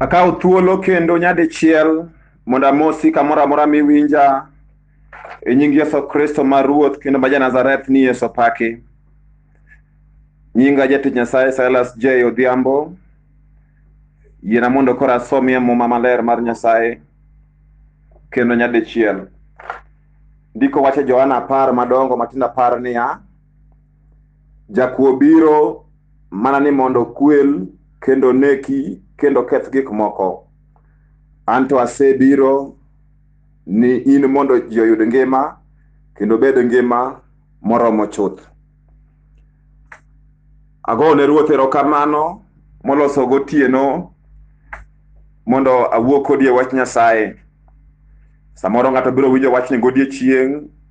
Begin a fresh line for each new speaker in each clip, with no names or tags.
Akawo thuolo kendo nyadichiel mondo amosi kamoro amora miwinja e nying Yesu Kristo ma Ruoth kendo ma Janazareth ni Yesu paki. Nyinga jatich Nyasaye Silas J. Odhiambo. Yiena mondo koro asomie muma maler mar Nyasaye kendo nyadichiel. Ndiko wacho e Johana apar madongo matindo apar niya, Jakuo biro mana ni mondo okwel kendo oneki kendo oketh gik moko. An to asebiro ni in mondo ji oyud ngima kendo obed ngima moromo chuth. Agoyo ne Ruoth erokamano moloso gotieno mondo awuo kodi e wach Nyasaye. Samoro ng'ato biro winjo wachni godiechieng'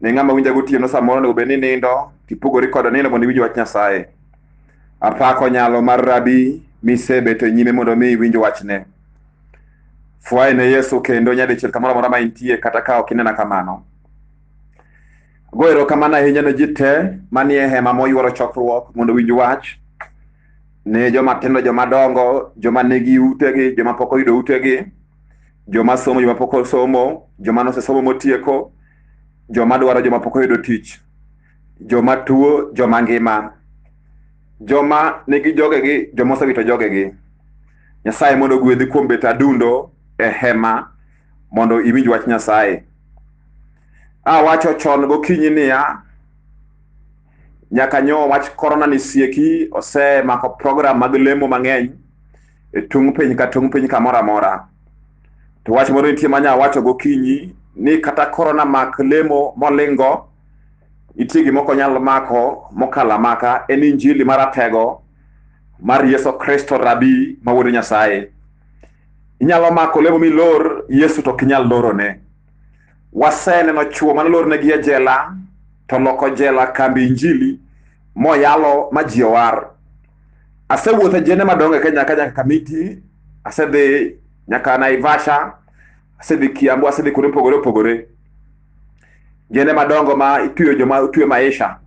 ne ng'ama winja gotieno samoro onego bed ni nindo tipogori koda nindo mondo iwinj wach nyasaye apako nyalo mar rabi misebeto e nyime mondo mi iwinj wachne fwaye ne yesu kendo nyadichiel kamoro amora ma intie kata ka ok inena kamano go erokamano ahinya ne ji te manie hema moyworo chokruok mondo winj wach ne joma tindo joma dongo joma nigi utegi joma pok oyudo utegi joma somo joma pok osomo joma nosesomo motieko joma dwaro joma pok oyudo tich joma tuo joma ngima joma nigi jogegi joma osewito jogegi nyasaye mondo ogwedhi kuom bet adundo e hema mondo iwinj wach nyasaye awacho chon gokinyi niya nyaka nyo wach korona ni sieki osemako program mag lemo mang'eny e tung' piny ka tung' piny kamoro amora. To wach moro nitie ma nya wacho gokinyi ni kata korona mak lemo molingo, nitie gima ok onyal mako mokalo amaka en injili maratego mar Yesu Kristo rabi ma wuod Nyasaye. Inyalo mako lemo milor Yesu to ok inyal lorone. Waseneno chwo mane olornegi e jela to loko jela kambi injili moyalo ma ji owar. Asewuotho jende madongo e Kenya ka nyaka Kamiti, asedhi nyaka Naivasha, asedhi Kiambu, asedhi kuonde mopogore opogore. Jende madongo ma itweyo joma otwe maisha.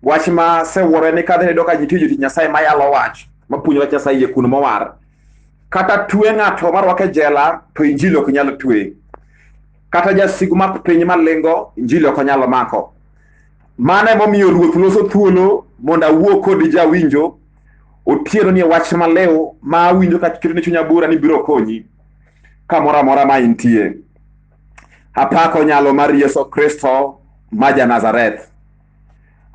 Wach ma asewuoro en ni kadhi nayudo ka ji twe jotich Nyasaye ma yalo wach, ma puonjo wach Nyasaye yie kuno mowar. Kata twe ng'ato ma rwake jela to injili ok nyal twe. Kata jasigu ma piny malingo injili ok onyal mako. Mano emomiyo Ruoth loso thuolo mondo awuo kod jawinjo otieno ni wach maleo ma awinjo ka keto ne chunya bura ni biro konyi kamoro amora ma intie. Apako nyalo mar Yesu Kristo ma ja Nazareth.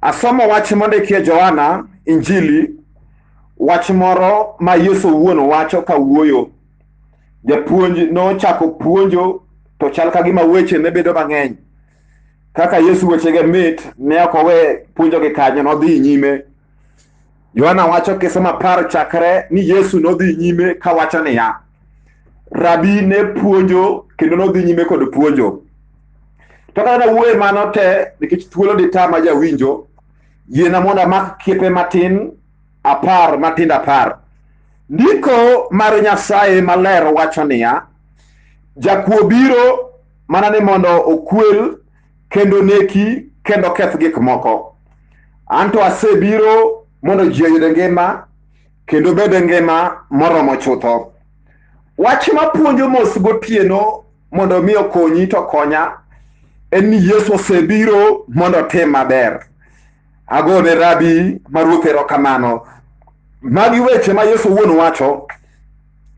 Asomo wach mondikie Johana Injili, wach moro ma Yesu owuon wacho ka wuoyo. Japuonj nochako puonjo to chal ka gima weche ne bedo mang'eny. kaka Yesu wechege mit ne ok owe puonjogi kanyo, nodhi nyime. Yohana wacho kisoma par chakre ni Yesu nodhi nyime kawacho niya, Rabi ne puonjo kendo nodhi nyime kod puonjo. To kata nawuoye mano te nikech thuolo ditama jawinjo, yiena mondo amak kiepe matin apar matindo apar. Ndiko mar Nyasaye maler wacho niya, Jakuo biro mana ni mondo okwel kendo neki kendo keth gik moko anto asebiro mondo ji oyud ngima kendo bed ngima moromo chutho wach mapuonjo mos gotieno mondo mi okonyi to konya en ni yesu osebiro mondo otim maber agone rabi ma ruoth erokamano magi weche ma yesu wuon wacho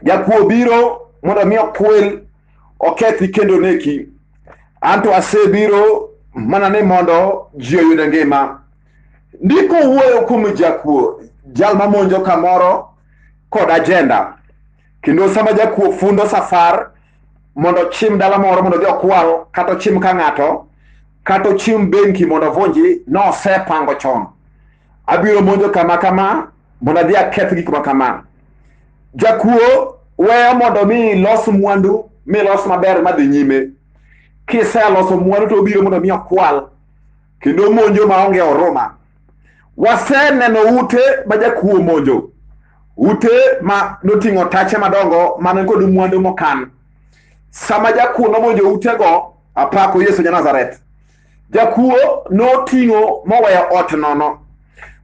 jakuo biro mondo mi okwel okethi kendo neki anto asebiro mana ni mondo ji oyud ngima ndiko wuoyo kuom jakuo jal mamonjo kamoro kod ajenda kendo sama jakuo fundo safar mondo ochim dala moro mondo odhi okwal kata ochim ka ng'ato kata ochim benki mondo ovunji nosepango chon Abiro monjo kama kama mondo adhi aketh gik ma kama. Jakuo weyo mondo mi ilos mwandu mi ilos maber madhi nyime. Kiseloso mwandu to obiro mondo mi okwal kendo monjo maonge huruma. Waseneno ute ma jakuo monjo, ute ma noting'o tache madongo man kod mwandu mokan. Sama jakuo nomonjo utego, apako Yesu ja Nazareth. Jakuo noting'o moweyo ot nono.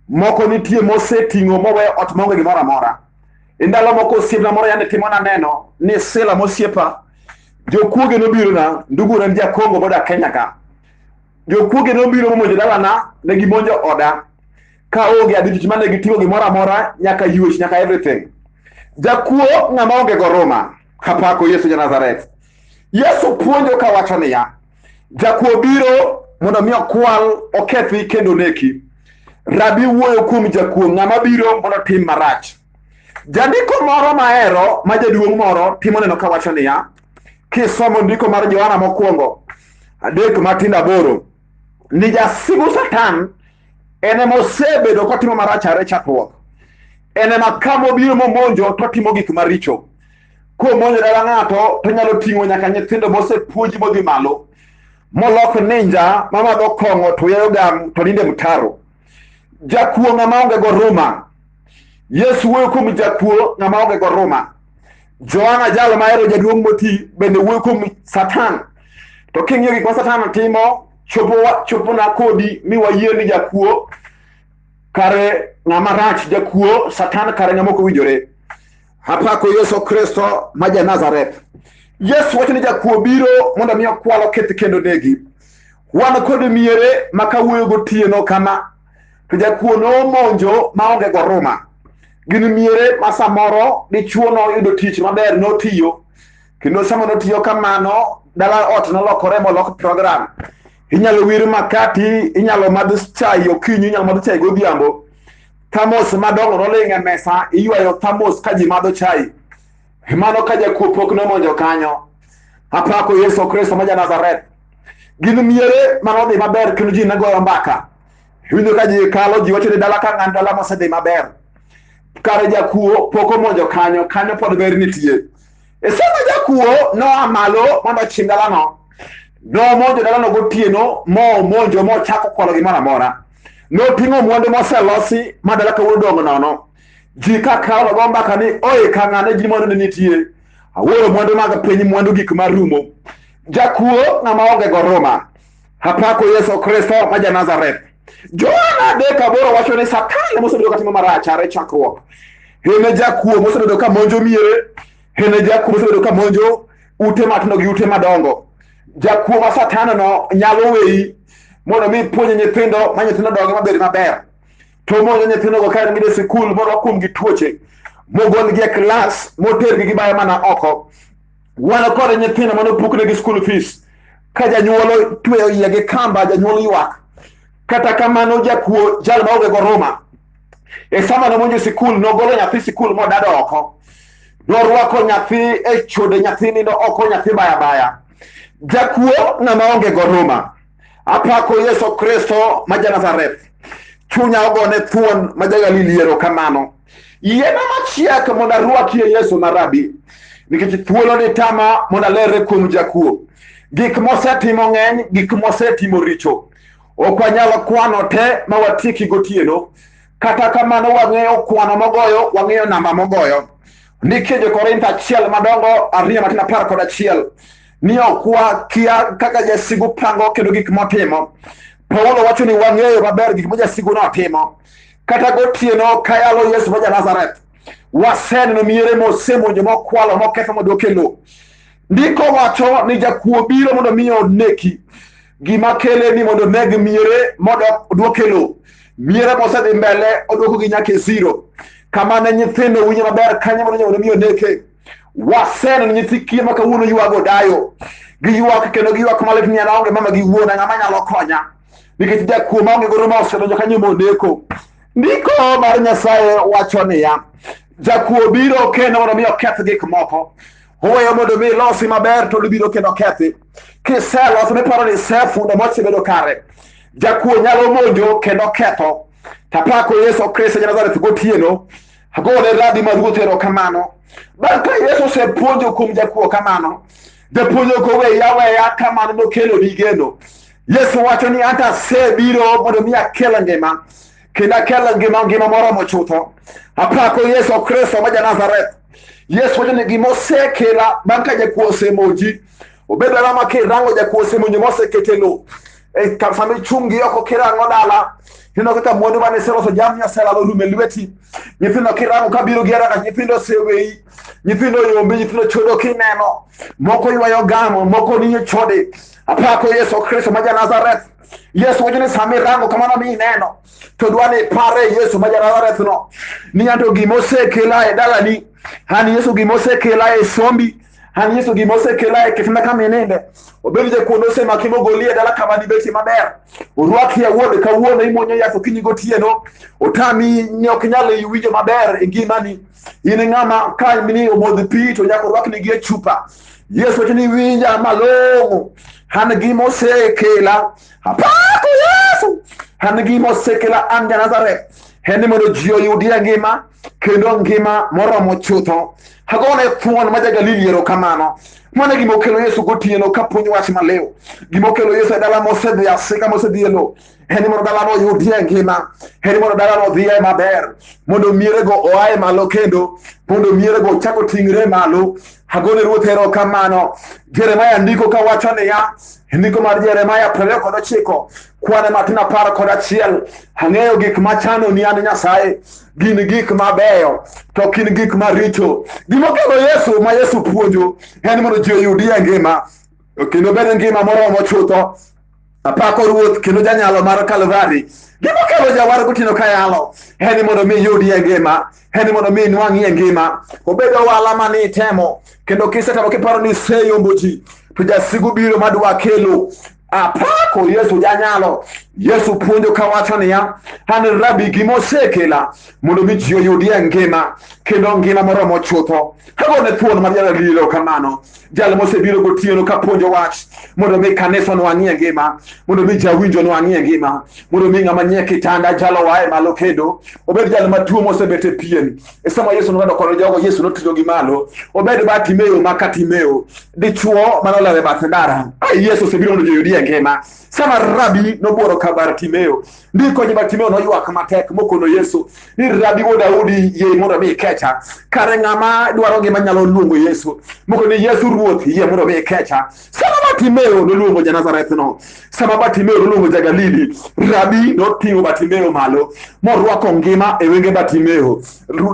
Moko nitie moseting'o moweyo ot maonge gimoro amora. E ndalo moko osiepna moro yande timo naneno ni Sila mosiepa jokuoge nobirona ndugura en jakongo boda Kenya ka. Jokuoge nobiro momonjo dalana ne gimonjo oda ka onge adich mane giting'o gimoro amora nyaka yuech nyaka everything. Jakuo ng'ama onge goruma kapako Yesu ja Nazareth. Yesu puonjo kawacho niya, Jakuo biro mondo mi okwal, okethi kendo oneki. Rabi wuoyo kuom jakuo, ng'ama biro mondo tim marach. Jandiko moro mahero ma jaduong' moro timo neno ka wacho niya, kisomo ndiko mar Johana mokwongo adek matindo aboro ni jasigu Satan en ema osebedo kotimo marach are chakruok, en ema kama obiro momonjo totimo gik maricho. komonjo dala ng'ato to nyalo ting'o nyaka nyithindo mosepuonji modhi malo molok ninja mamadho kong'o to yayo gam to ninde mtaro jakuo ng'ama onge go ruma yesu wuoyo kuom jakuo ng'ama onge go ruma johana jalo mahero jaduong' moti bende wuoyo kuom satan to king'iyo gik ma satan timo chopona kodi mi wayie ni jakuo kare ng'ama rach jakuo satan kare ng'ama ok owinjore Apako Yesu Kristo ma ja Nazareth. Yesu wacho ni jakuo biro mondo mi okwalo keth kendo negi. Wan kod miere ma kawuoyo gotieno kama to jakuo nomonjo maonge goruma. Gin miere ma samoro dichuo noyudo tich maber notiyo kendo sama notiyo kamano dala ot nolokore molok program inyalo wir makati inyalo madh chai okinyi inyalo madh chai godhiambo thamos madongo noling' e mesa iywayo thamos ka ji madho chai mano ka jakuo pok nomonjo kanyo apako yesu kristo ma janazareth gin miere manodhi maber kendo ji nagoyo mbaka winjo ka ji kalo ji wacho ni dala ka ng'an dala mosedhi maber kare jakuo pok omonjo kanyo kanyo pod ber nitie e sama jakuo noa malo mondo ochim dalano nomonjo dalano gotieno momonjo mochako kwalo gimoro amora Noting'o mwandu moselosi ma dala kawuono dongo nono. Ji ka kawo go mbaka ni oye ka ng'ane ji mwandu ne nitie. Awuoro mwandu mag piny mwandu gik ma rumo. Jakuo ng'ama onge go ruma. Apako Yesu Kristo ma ja Nazareth. Johana adek aboro wacho ni Satan mosebedo katimo marach are chakruok. Hene jakuo mosebedo ka monjo miere. Hene jakuo mosebedo ka monjo ute matindo gi ute madongo. jakuo ma satana no nyalo weyi mondo mi puonje nyithindo ma nyithindo donge mabed maber to mondo nyithindo go kae gidhi sikul mondo wakuom gi tuoche mogolgi e klas motergi gibayo mana oko wan kod nyithindo mane opuknegi school fees ka janyuol tweyo iye gi kamba janyuol ywak kata kamano jakuo jal maonge goruma e sama nomonjo sikul nogolo nyathi sikul modado oko norwako nyathi e chode nyathi nindo oko nyathi baya baya jakuo ng'ama onge goruma apako yesu kristo ma janazareth chunya ogone thuon ma jagalili erokamano yiena machiek mondo arwakie yesu ma rabi nikech thuolo ni tama mondo alerre kuom jakuo gik mosetimo ng'eny gik mosetimo richo Ok wanyalo kwano te ma watieki gotieno. Kata kamano, wang'eyo kwano mogoyo, wang'eyo namba mogoyo. Nitie Jo-Korintho achiel madongo ariyo matin apar kod achiel ni ok wakia kaka jasigu pango kendo gik motimo. Paulo wacho ni wang'eyo maber gik ma jasigu notimo. Kata gotieno kayalo Yesu ma ja Nazareth, waseneno miere mosemonjo, mokwalo, moketho, modok e lowo. Ndiko wacho ni jakuo biro mondo mi oneki, gima kele ni mondo oneg miere mondo oduoke lowo. Miere mosedhi mbele oduoko gi nyaka e zero. Kama ne nyithindo winjo maber kanyo mondo nyawone mi oneke. Waseneno nyithi kiye ma kawuono ywago dayo, giywak kendo giywak malit ni an aonge mama gi wuona, ng'ama nyalo konya? Nikech jakuo maonge godo ma osedonjo kanyo moneko. Ndiko mar Nyasaye wacho niya, jakuo biro kendo mondo mi oketh gik moko. Oweyo mondo mi ilosi maber to libiro kendo kethi. Kiselos miparo ni isefundo mosebedo kare. Jakuo nyalo monjo kendo ketho. Tapako Yesu Kristo ja Nazareth gotieno. Agone radi ma ruoth erokamano. Bang' ka Yesu osepuonjo kuom jakuo kamano, japuonjo koweya aweya kamano nokelo ni geno. Yesu wacho ni anta asebiro mondo mi akel ngima kendo akelo ngima ngima moromo chutho apako yesu kristo ma janazareth yesu wacho ni gima osekela bang' ka jakuo osemonji obedo ang'o ma kirango jakuo osemonji ma osekete lo e ka- sama ichungi oko kirango dala ineno kaka mwandu mane iseloso jamni oselalo rum e lweti nyithindo kirango kabiro gi araka nyithindo oseweyi nyithindo oyombi nyithindo chodo kineno moko ywayo gamo moko ninyo chode apako yesu kristo ma janazareth Yesu wacho ni sama irango kamano mi ineno to dwa ni ipare Yesu ma Janazarethno ni anto gima osekela e dalani an Yesu gima osekela e sombi an Yesu gima osekela e kitanda kama ininde obed jakuondo osemaki mogoli e dala kama dibeti maber orwaki e wuode kawuono imwonyo yath okinyi gotieno otami ok nyal winjo maber e ngimani in ng'ama ka ni omodh pi to nyaka orwakni gi e chupa Yesu wacho ni winja malong'o, an gima osekela apako Yesu, an gima osekela an Janazareth en ni mondo ji oyudie ngima kendo ngima moromo chutho. Agone thuon ma ja-Galili erokamano mano gima okelo Yesu gotieno ka puonj wach maliw. Gima okelo Yesu e dala mosedhi asika mosedhi e lowo en mondo dalano oyudie ngima en mondo dalano odhiye maber mondo mierego oaye malo kendo mondo mierego ochak oting're malo agone ruoth erokamano jeremaya ndiko kawacho niya ndiko mar jeremaya prariyo kod ochiko kwane matin apar kod achiel ang'eyo gik machano ni an nyasaye gin gik mabeyo to ok in gik maricho gimokelo yesu ma yesu puonjo en mondo ji oyudie ngima kendo bed ngima moromo chutho Apako Ruoth kendo janyalo mar Kalvari. Gima kelo jawar gotieno ka yalo en ni mondo mi iyudie ngima, en ni mondo mi inwang'ie ngima. Obed ohala ma ni itemo kendo kisetemo kiparo ni iseyombo ji to jasigu biro madwa kelo apako yesu janyalo yesu puonjo kawacho niya an rabi gima osekela mondo mi ji oyudie ngima kendo ngima moromo chutho agone thuon mar yara lilo kamano jal mosebiro gotieno ka puonjo wach mondo mi kanisa nwang'ie ngima mondo mi jawinjo nwang'ie ngima mondo mi ng'ama nie kitanda jalo wae malo kendo obed jal matuo mosebet e pien e sama yesu nong'ado koro jogo yesu noting'o gi malo obed ba timeo ma ka timeo dichuo manolewo e bath ndara Ai, yesu osebiro mondo joyudi e ngima sama rabi nobworo ka bar timeo Ndiko ni Bartimeo noywak matek mokono Yesu ni rabi wuod Daudi yie mondo mi ikecha. Kare ng'ama dwaro ngima nyalo luongo Yesu. Moko ni Yesu ruoth yie mondo mi ikecha. Sama Bartimeo noluongo ja Nazareth no, sama Bartimeo noluongo ja Galili, rabi noting'o Bartimeo malo morwako ngima e wenge Bartimeo.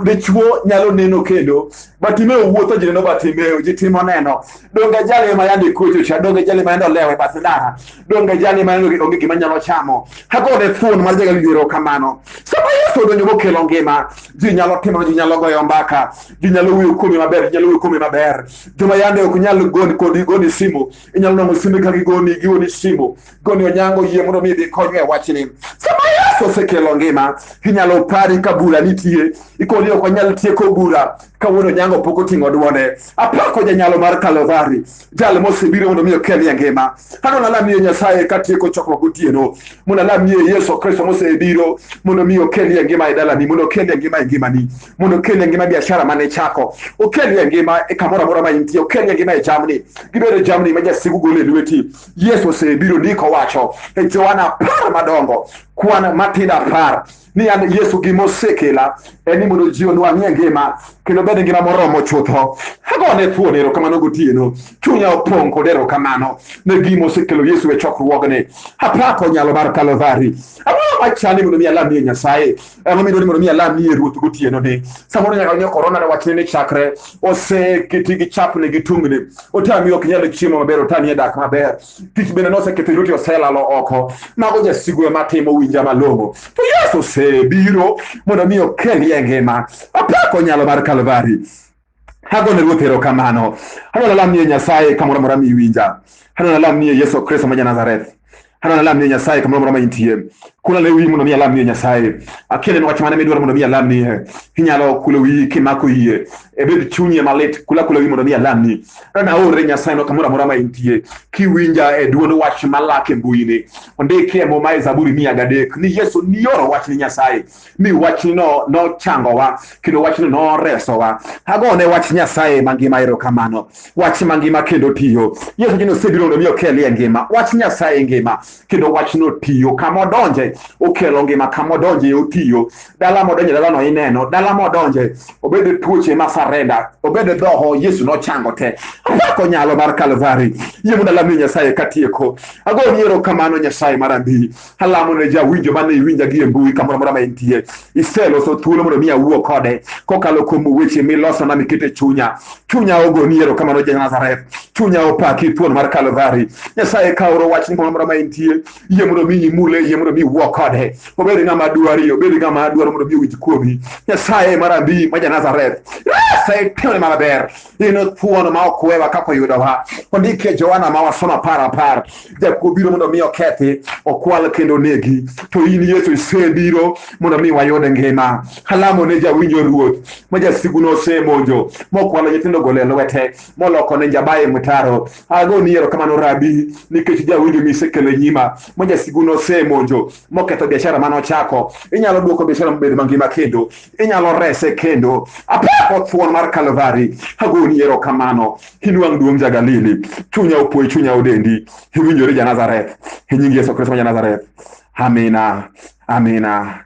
Dichuo nyalo neno kendo batime owuotho ji neno batime ji timo neno donge jali ma yande kocho cha donge jali ma yande olewe bath ndara donge jali ma yande onge gima nyalo chamo hakone thuon mar jaga wiero kamano sama yesu odonjo mokelo ngima ji nyalo timo ji nyalo goyo mbaka ji nyalo wuyo kuome maber ji nyalo wuyo kuome maber joma yande ok nyal goni kodi goni simu inyalo nongo simbe ka gigoni gioni simu goni onyango yie mondo mi idhi konywa e wachni sama yesu osekelo ngima inyalo pari ka bura nitie ikoni ok wanyal tieko bura ka wuod onyango pok oting'o dwonde apako janyalo mar kalovari jal mosebiro mondo mi okelie ngima kano nalamie nyasaye katieko chokruok gotieno mondo alamie yesu kristo mosebiro mondo mi okelie ngima e dalani mondo okelie ngima e ngimani mondo okelni e ngima biashara mane ichako okelni e ngima e kamoro amora ma intie okelni e ngima e jamni gibedo e jamni ma jasigu golo e lweti yesu osebiro ndiko wacho e joana apar madongo kwan matindo apar ni an yesu gima osekela en ni mondo ji onwang'i e ngima kendo bed e ngima moromo chutho agone thuon erokamano gotieno chunya opong' kod erokamano ne gima osekelo yesu e chokruogni apako nyalo mar kalvari ang'o machani mondo mi alamie nyasaye Ang'o midwaro ni mondo mi alam ni e ruoth gotieno ni? Samoro nyaka nyo korona ne wachne ni chakre oseketi gi chapne gi tungni. Otami ok nyal chiemo maber, otami e dak maber. Tich bende noseketho yuti oselalo oko. Mago jasigu ema timo winja malong'o. To Yesu osebiro mondo mi okelie ngima. Apako nyalo mar Kalvari. hagone ruoth erokamano hano nalamnie nyasaye kamoro amora miwinja hano nalamnie yesu kristo ma janazareth hano nalamnie nyasaye kamoro amora ma intie kula ne wiyi mondo mi alamnie nyasaye akeleni wach mane midwaro mondo mi alamnie inyalo kulo wiyi kimako yie ebed chunyi malit kula kulo wiyi mondo mi alamni hano naore nyasaye no kamoro amora ma intie kiwinja e duond wach malak e mbuyini ondiki e muma e zaburi mia gadek ni yesu nioro wach ni nyasaye mi wachni no nochangowa kendo wachni noresowa agone wach nyasaye mangima erokamano wach mangima kendo tiyo yesu jino osebiro mondo mi okelie ngima wach nyasaye ngima kendo wachno tiyo kama odonje okelo ngima kama odonje otiyo dala modonje dalano ineno dala modonje obed e tuoche ma sarenda obed e dhoho yesu nochango te apako nyalo mar kalvari yie mondo alamni nyasaye katieko agoni erokamano nyasaye marandii Alamo ne jawinjo mane iwinja gi e mbui kamoro amora ma entie. Iseloso thuolo mondo mi awuo kode kokalo kuom weche milosona mikete chunya. Chunya ogoni erokamano ja Nazareth. Chunya opaki thuon mar Kalvari. Nyasaye kawro wachni kamoro amora ma entie. Yie mondo mi imule, yie mondo mi iwuo kode. Obed ng'ama dwari, obed ng'ama dwaro mondo mi owinj kuomi. Nyasaye marandii ma ja Nazareth. Nyasaye timne maber. inothuono ma ok wewa kaka oyudowa ondik e Johana ma wasomo apar apar jakuo biro mondo mi okethi okwal kendo onegi to in Yesu isebiro mondo mi wayud ngima alamo ne jawinjo ruoth ma jasigu nosemonjo mokwalo nyithindo gole lwete moloko ne jabaye mtaro ago ni erokamano rabi nikech jawinjo misekelo e nyima ma jasigu nosemonjo moketho biashara manochako inyalo duoko biashara mobed mangima kendo inyalo rese kendo. Apako thuon mar Kalvari, agoni erokamano. Inwang' duong' ja Galili, chunya opoi, chunya odendi. Iwinjori ja Nazareth, e nying Yesu Kristo ma ja Nazareth. Amina, amina.